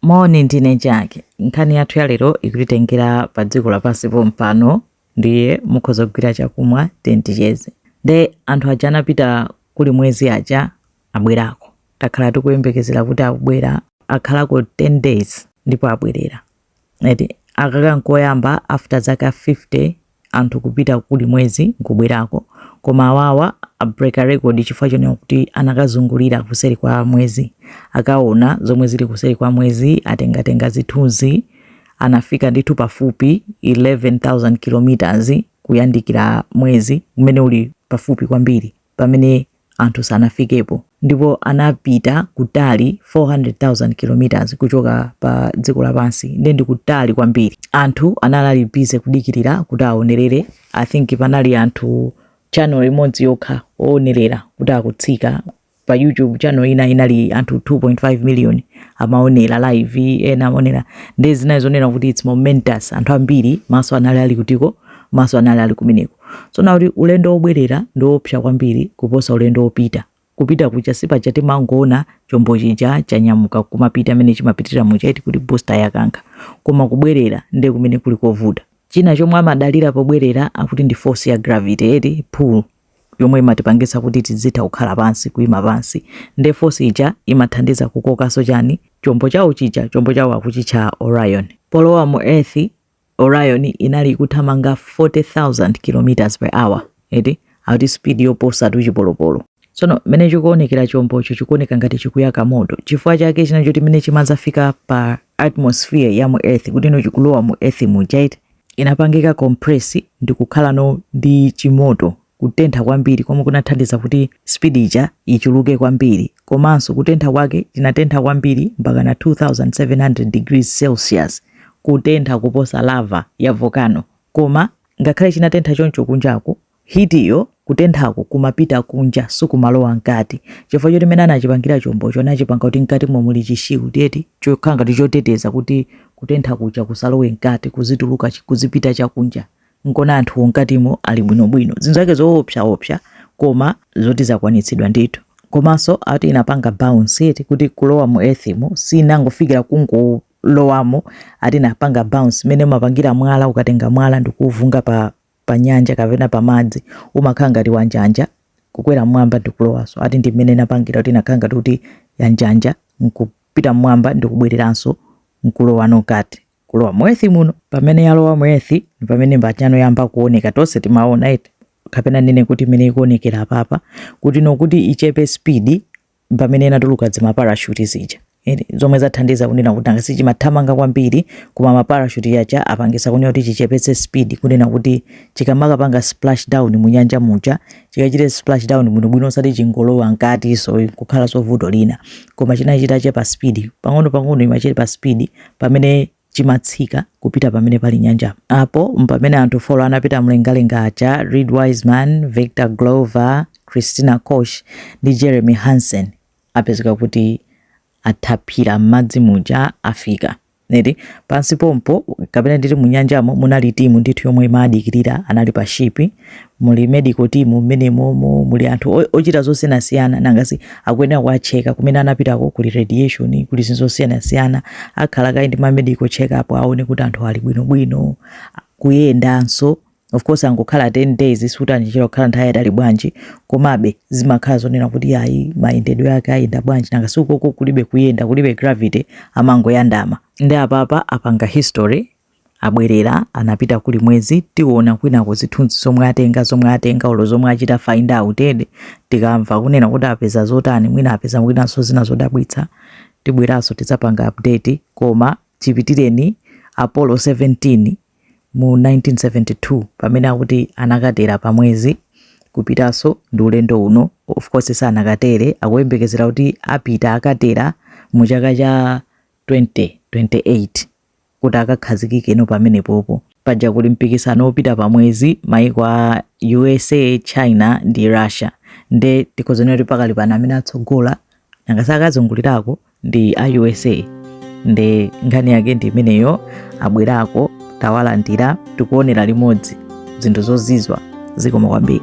Moni, ndine Jake. Nkhani yathu ya lero ikutitengera pa dziko lapansi pompano, ndiye mukhoza kugwira chakumwa then ticheze. Nde anthu aja anapita kuli mwezi aja abwerako. Takhala tikuyembekezera kuti akubwera akhalako 10 days ndipo abwerera. Eti akaka nkoyamba after zaka 50 anthu kupita kuli mwezi nkubwerako koma awawa abreaka record chifukwa chonena kuti anakazungulira kuseri kwa mwezi akaona zomwe zili kuseri kwa mwezi atengatenga zithunzi anafika ndithu pafupi 11000 kilometers kuyandikira mwezi umene uli pafupi kwambiri pamene anthu sanafikepo ndipo anapita kutali 400,000 km kuchoka pa dziko lapansi nde ndi kutali kwambiri anthu anali ali busy kudikirira kuti aonerere i think panali anthu channel imodzi yokha oonerera kuti akutsika pa youtube channel ina inali anthu 2.5 million amaonera live ena amaonera nde zinali zonena kuti its momentous anthu ambiri maso anali ali kutiko maso anali ali kumeneko Tsono akuti ulendo wobwerera ndi woopsa kwambiri kuposa ulendo wopita. Kupita kuja si paja timangoona chombo chija chanyamuka kumapita mmene chimapitira muja eti kuti booster yakankha. Koma kubwerera ndiye kumene kuli kovuta. China chomwe amadalira pobwerera akuti ndi force ya gravity eti, pull, yomwe imatipangitsa kuti tizitha kukhala pansi, kuima pansi. Ndiye force ija imathandiza kukokanso chani? Chombo chawo chija, chombo chawo akuchitcha Orion. Polowa mu earth, Orion inali ikuthamanga 40,000 km per hour, eti akuti speed yoposatu chipolopolo. Tsono mmene chikuonekera chombocho chikuoneka ngati chikuyaka moto. Chifukwa chake chinali choti mmene chimadzafika pa atmosphere ya mu Earth, kuti no chikulowa mu Earth muja eti, inapangika compress ndi kukhala no ndi chimoto. kutentha kwambiri komwe kunathandiza kuti speed ija ichuluke kwambiri komanso kutentha kwake chinatentha kwambiri mpaka na 2700 degrees celsius kutentha kuposa lava ya volcano koma ngakhale chinatentha choncho kunjako heat iyo kutenthako kumapita kunja sikumalowa mkati chifukwa choti mene anachipangira chombocho anachipanga kuti mkatimo muli chishield eti chokhala ngati choteteza kuti kutentha kuja kusalowe mkati kuzituluka kuzipita chakunja nkona anthuwo mkatimo ali bwinobwino zinthu zake zoopsaopsa koma zoti zakwanitsidwa ndithu komanso ati inapanga bounce eti kuti kulowa mu earthmo sinangofikira kungolowamo ati inapanga bounce mene umapangira mwala ukatenga mwala ndikuuvunga pa, pa nyanja kapena pa madzi umakhala ngati wanjanja kukwera mmwamba ndikulowanso ati ndi mmene inapangira kuti inakhala ngati kuti yanjanja nkupita mmwamba ndikubwereranso nkulowa no mkati kulowa mu Earth muno pamene yalowa mu Earth ndi pamene imakhala ngati yayamba kuoneka tonse timaona eti kapena nene kuti imene ikuonekera apapa kutinokuti ichepe speed pamene inatuluka dzimaparashuti zija Eti, zomwe zathandiza kunena kuti nanga sichimathamanga kwambiri koma maparashuti aja apangitsa kunena kuti chichepetse speed kunena kuti chikamakapanga splash down mu nyanja muja chikachite splash down muno bwino osati chingolowa mkati so kukhala nso vuto lina koma chinachita chepa speed pang'ono pang'ono imachepa speed pamene chimatsika kupita pamene pali nyanja apo mpamene anthu four anapita mlengalenga aja reed wiseman victor glover christina koch ndi jeremy hansen apezeka kuti athavira m'madzi muja afika nditi pansi pompo kapena nditi munyanjamo munali timu ndithu yomwe imadikirira anali pa shipi muli medical team mmenemomo muli anthu o- ochita zosiyanasiyana nangasi akuyenera kuwatcheka kumene anapitako kuli radiation kuli zinthu zosiyanasiyana akhala kaye ndi ma medical check up aone kuti anthu ali bwinobwino kuyendanso of course angokhala 10 days sutandichera kukhala nthawi yayitali bwanji komabe zimakhala zonena kuti ayi mayendedwe ake ayenda bwanji nangasi ukoko kulibe kuyenda kulibe gravity amangoyandama nde apapa apanga history abwerera anapita kuli mwezi tiona kwinako zithunzi zomwe atenga zomwe atenga olo zomwe achita find out nde tikamva kunena kuti apeza zotani mwina apeza mwinanso zina zodabwitsa tibweranso tidzapanga update koma chipitireni apollo 17 mu 1972 pamene akuti anakatera pa mwezi kupitanso ndi ulendo uno of course sanakatere akuyembekezera kuti apita akatera mu chaka cha 2028 kuti akakhazikikeno pamenepopo. Paja kuli mpikisano wopita pa mwezi maiko a usa, China ndi Russia nde tikhoza kunena kuti pakali pano amene atsogola nangasi akazungulirako ndi a usa nde nkhani yake ndi imeneyo abwerako tawalandira tikuonera limodzi zinthu zozizwitsa zikoma kwambiri